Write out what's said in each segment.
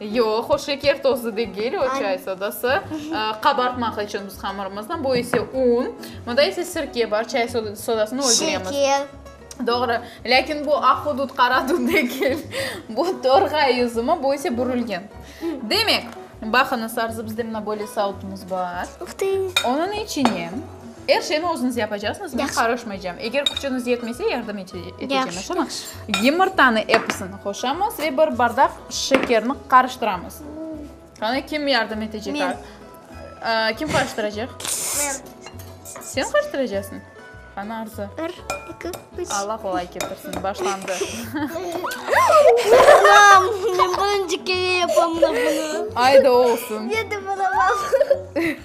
Yoq, o şeker tozu degil, o çay sodası. Qabartmaq içün biz hamırımıznı, bu ise un. Bunda ise sirke bar, çay sodasını öldüremiz. Şeker. Doğru. Lâkin bu aq udud, qara dud degil. Bu torğay üzümü, bu ise bürülgen. Demek, baqıñız, arzımızda mına böyle sautumız bar. Onıñ içine Er şeyni özüñiz yapacaqsıñız, men qarışmaycam. Eger küçüñiz yetmese, yardım etecem, aşamı? Yımırtanı episini qoşamız ve bir bardaq şekerni qarıştıramız. Qanı, kim yardım etecek? Men. Kim qarıştıracaq? Men. Sen qarıştıracaqsıñ? Qanı, Arzu. Bir, iki, üç. Allah qolay ketirsin, başlandı. Anam, men birinci kere yapamına bunu. Ayda olsun. Yedim, anam.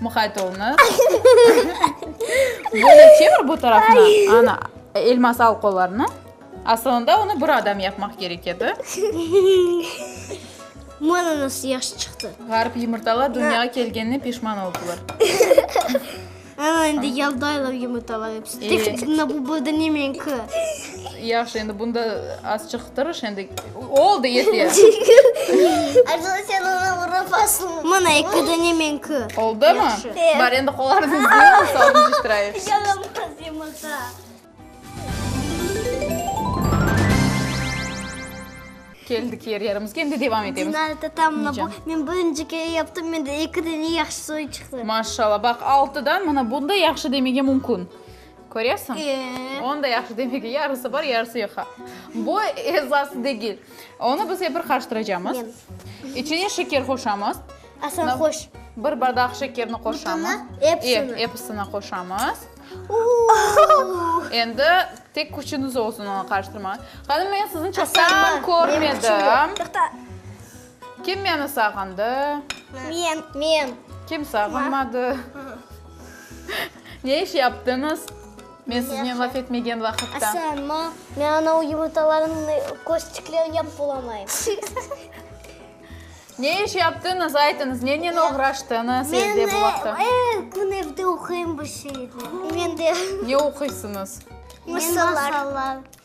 Muqayt olunız. Böyle çevir bu tarafına. Ana, Elmaz, al qollarını. Asılında onı bir adam yapmaq kerek edi. Mana nasıl yahşı çıqtı. Ğarip yumurtalar dünyağa kelgenine pişman oldılar. Ana, indi yaldaylar yumurtalar hepsi. Tek, na bu burada nemenki. Yahşı, endi bunda azçıq tırış, endi oldı, yete. Ayşula, sen onı urıp asıl. Mına, eki dane menki. Oldımı? Bar, endi qollarnıñ üstüne saldım şıtırayı. Yaramaz yumurta. Keldik yer yerimizge, endi devam etemiz. Dinar, tatam, mına bu, men birinci kere yaptım, mende eki dane yahşı soy çıqtı. Maşallah, baq, altıdan, mına bunda yahşı demege mümkün. Köresiñ? Onda yahşı, demek ki, yarısı bar, yarısı yoq, ha? Bu esası degil. Onı biz epir qarıştıracamız. İçine şeker qoşamız. Asan qoş. Bir bardaq şekerni qoşamız. Epsini? Episini qoşamız. Endi tek küçüniz olsun onı qarıştırmağa. Hanım, men sizni çoqtan körmedim. Toqta. Kim meni sağındı? Men. Men. Kim sağınmadı? Ne iş yaptıñız, men siznen laf etmegen vaqıtta? Asan, ma, men anau yumurtalarnıñ kösçiklerini yapıp olamayım. Ne iş yaptıñız, aytıñız, nenen oğraştıñız evde bu vaqıta? Men er kün evde oquyım bir şeyler. Men de. Ne oquysıñız? Masallar.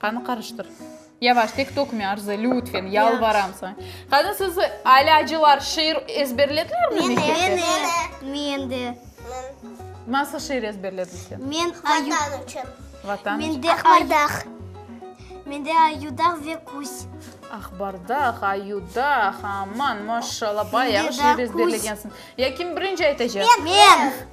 Qanı qarıştır. Yavaş, tek tökme, Arzı, lütfen, yalvaram saña. Qani, siz alâcılar şiir ezberlediñizmi mektepte? Meni. Men de. Nasıl şiir ezberledin sen? Men ayu. Vatan içün. Vatan içün. Mende. Aqbardaq. Mende ayudaq ve küs. Aqbardaq, ayudaq, aman, maşşallah, bayağı şiir ezberlegensiñ. Ya kim birinci aytacaq? Men.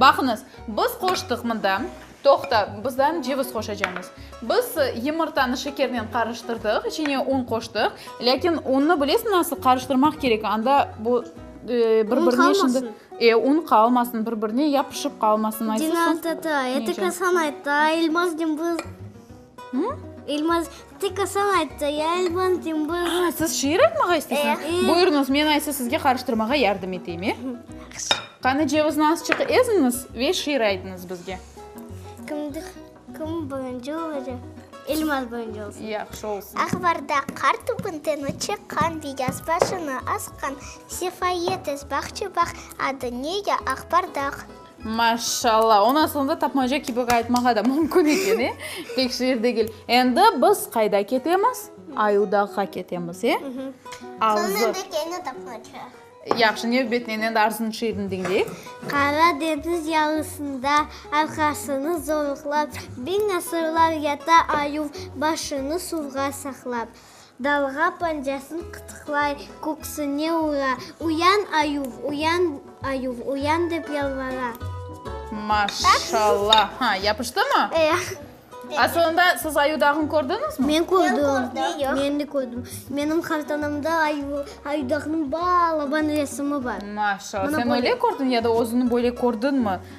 Baqıñız, biz qoştıq mında. Toqta, bizden ceviz qoşacañız. Biz yımırtanı şekernen qarıştırdıq, içine un qoştıq. Lâkin unnı bilesiñ nasıl qarıştırmaq kerek, anda bu bir-birine şimdi. E, un qalmasın, bir-birine yapışıp qalmasın. Dina tata, eti kasan ayttı, Elmaz cımbız. İlmaz, tek Asan ayttı, ya İlmaz, Cımbız. Ha, siz şiir aytmağa isteysiniz? Buyurunız, men aysı sizge qarıştırmağa yardım eteyim, e? Qani, cevizni azçıq eziniz ve şiir aytınız bizge. Kimdir, kim birinci olacaq? İlmaz birinci olsun. Yahşı olsun. Aqbarda qar tübünden çıqqan, beyaz başını asqan, sefayetes bağçı bağ, adı nege Aqbardaq? Maşşalla! Onı asılında tapmaca kibi qaytmağa da mümkün eken, e? Tek şiir degil. Endi biz qayda ketemiz? Ayudağğa ketemiz, e? Arzı. Soñra da kene tapmaca. Yahşı, nevbetinen endi Arzınıñ şiirini diñleyik. Qara deñiz yalısında arqasını zorluqlap, biñ asırlar yata ayuv, başını suvğa saqlap. Dalğa pancasın qıtıqlay, köksüne ura, Uyan, ayuv, uyan, ayuv, uyan, dep yalvara. Maşalla. Ha, yapıştımı? A soñunda siz ayu dağın kördiñizmi? Men kördim. Men de kördim. Menim qartanamda ayudağnıñ balaban resimi bar. Maşalla. Sen öyle kördiñ ya da özüni böyle kördiñmi?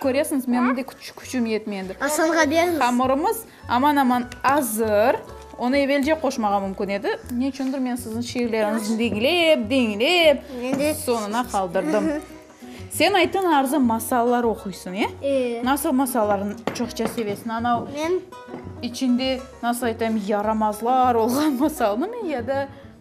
Köresiñiz, menim de küçüm yetmey endi. Asanğa beriñiz. Hamurımız aman-aman azır. Onı evelce qoşmağa mümkün edi. Ne içündir, men siziñ şiirleriñizni diñlep, diñlep, soñuna qaldırdım. Sen ayttıñ, Arzu, masallar oquysıñ, e? E. Nasıl masallarnı çoqça sevesiñ? Anav, içinde, nasıl aytayım, yaramazlar olğan masalnımı ya da...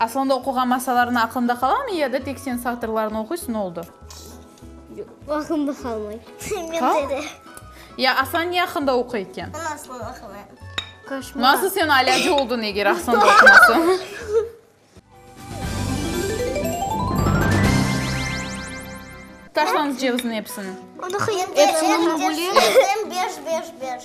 Aslında oquğan masallarıñ aqlında qalamı ya da tek sen satırlarını oquysıñ oldı? Aqlımda qalmay. Qalmay? Ya Aslan ne aqında oquy eken? Ana Aslan aqında. Koşmar. Nasıl sen alâcı oldıñ eger aqsanda oqumasañ? Taşlañız ceviziñ episini. Episini mi bölemiz? Beş beş beş.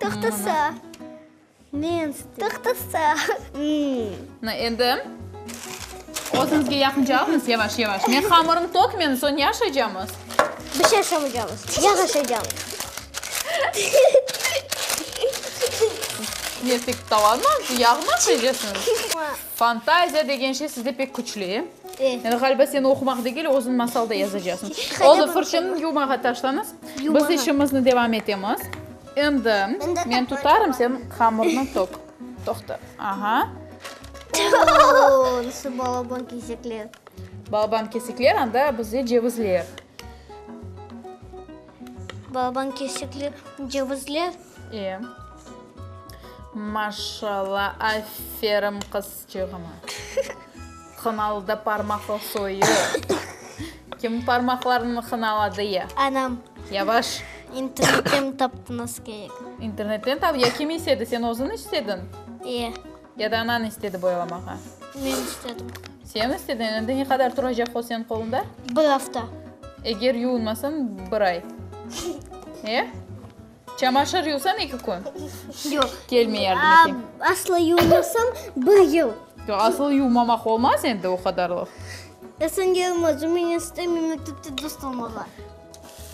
Toqtasa. Men sitem. Toqtasa. Na, endi özümizge yaqınca alınız, yavaş, yavaş. Men hamırım toq, men soñ ne aşaycamız? Bir şey aşamaycamız. Yağ aşaycamız. Ne, tek tavanmı, yağmı aşaycasıñız? Fantaziya degen şey sizde pek küçlü, e? E. Yani, ğaliba, sen oqumaq degil, özüñ masalda yazacasıñ. Olı fırçanı yumağa taşlañız. Biz işimizni devam etemiz. Endi men tutarım, sen hamurnı toq. Toqta. Aha. Nasıl balaban kesekler. Balaban kesekler, anda bizde cevizler. Balaban kesekler, cevizler. E. Maşallah, aferin qız. Çıgımı. Hınalıda parmaqlı soyu. Kim parmaqlarını hınaladı ya? Anam. Yavaş. İnternetten taptınız kerek. İnternetten tap, ya kim istedi, sen özün istedin? İyi. Ya da anan istedi boyalamağa? Men istedim. Sen istedin, endi ne qadar turacaq o senin qolunda? Bir afta. Eger yuvunmasan, bir ay. E? Çamaşır yuvsañ eki kün? Yoq. Kelmey yardım eteyim. Aa, asla yuvmasam bir yıl. Yoq, asıl yuvmamaq olmaz endi o qadarlıq. Esenge olmaz, o menen ister mektepte dost olmağa.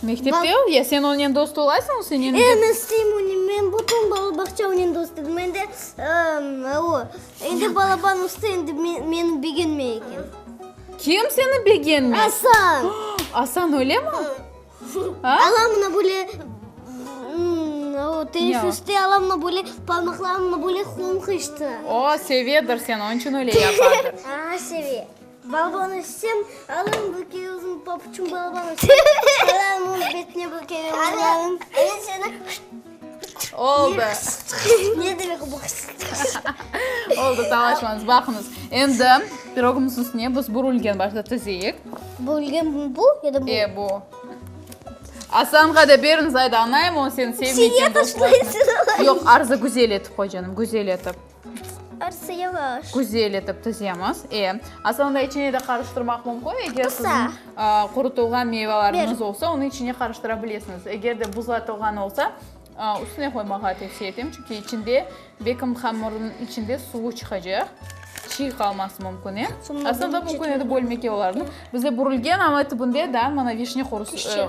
Mektepte ol, ya sen onen dost olasıñ, o senen de. E, men isteyim onen, men bütün balabaqça onen dost edim, endi aa, o, endi balaban usta endi meni begenmey eken. Kim seni begenmey? Asan. Asan öyle mi? Alamına böyle teneffüste alamına böyle parmaqlarımnı böyle qoñqıştı. O, sevedir seni, onıñ içün öyle yapadır. A, seve. Balban etsem, alam bir kere özüm papuçım balban etsem, alam onıñ betine bir kere urarım. Oldı. Ne demek bu hırsızlıqsız? Oldı, savaşmañız. Baqıñız, endi pirogımız üstüne biz bu rulgeni başta tizeyik. Bu rulgen bu ya da bu? E, bu. Aslanğa da beriñiz, ayda, añaymı o seni sevmeyken? Yoq, arzı güzel etip qoy, canım, güzel etip. Arsı yalaş. Küzel etip tizemiz. E, aslında içine de qarıştırmaq mümkün. Eger sizin qurutılğan meyveleriniz olsa, onı içine qarıştıra bilesiñiz. Eger de buzlatılğan olsa, üstüne qoymağa tevsiye etem. Çünki içinde, bekim hamırınıñ içinde suvu çıqacaq. Çiy qalması mümkün. E, aslında mümkün edi bölmege olarnı. Bizde bürülgen, amma tibinde da mana vişne qurusu.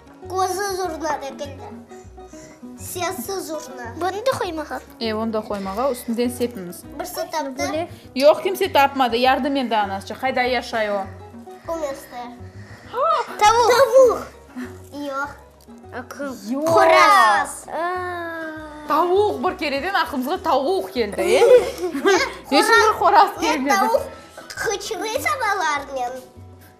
Közü zurna degildi, sesi zurna. Bunı da qoymağa? E, onı da qoymağa, üstünden sepiñiz. Birsi taptı. Yoq, kimse tapmadı. Yardım endi anasçı. Qayda yaşay o? Bu meste. Tavuq. Tavuq. Yoq. Qoraz. Tavuq bir kereden aqlımızğa tavuq keldi, e? Eşimizge qoraz kelmedi. Tavuq qıçırıysa balarnen.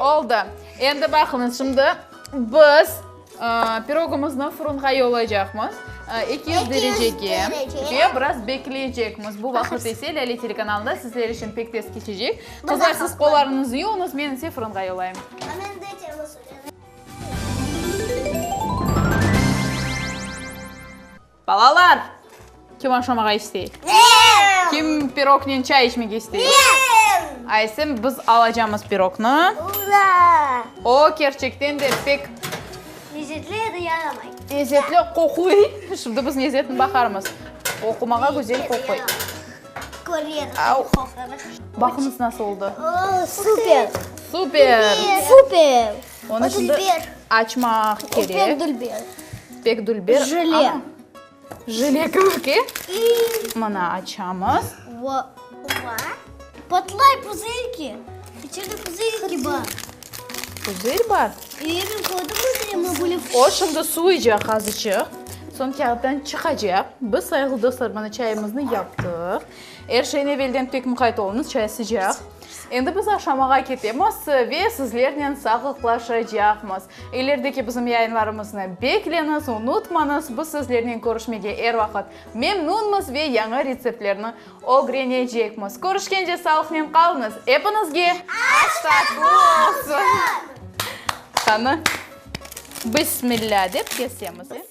Oldı. Endi baqıñız, şimdi biz pirogımıznı fırınğa yollaycaqmız, eki yüz derecege, ve biraz bekleycekmiz. Bu vaqıt ise Lâle telekanalında sizler içün pek tez keçecek. Qızlar, siz qollarıñıznı yuvuñız, men ise fırınğa yollayım. Balalar! Kim oşamağa istey? Men! Kim pirognen çay içmege istey? Men! Aysim, biz alacamız pirogni. Ura! O, kerçekten de pek. Lezetli ya da yaramay? Lezetli, qoquy. Şimdi biz lezetini baqarmız. Oqumağa güzel qoquy. Köreriz, qoqarız. Baqıñız nasıl oldı. O, super! Super! Super! Onı şimdi açmaq kerek. Pek dülber. Pek dülber. Jile. Jile köke. Mına açamız. Vo. Vo. Patlay puzırki. İçeride puzırki bar. Puzır bar? Emin koydunuz ya. O şimdi suycaq azıcıq. Son kağıttan çıqacaq. Biz sayılı dostlar mına çayımıznı yaptıq. Er şeyin evelden pek muqayt olunız. Çay sıcaq. Endi biz aşamağa ketemiz ve sizlernen sağlıqlaşacaqmız. İlerdeki bizim yayınlarımıznı bekleñiz, unutmañız, biz sizlernen körüşmege er vaqıt memnunmız ve yañı retseptlerni ögrenecekmiz. Körüşkence sağlıqnen qalıñız, epiñizge aştat qutlu olsun! Qanı, Bismilâ dep kesemiz, e?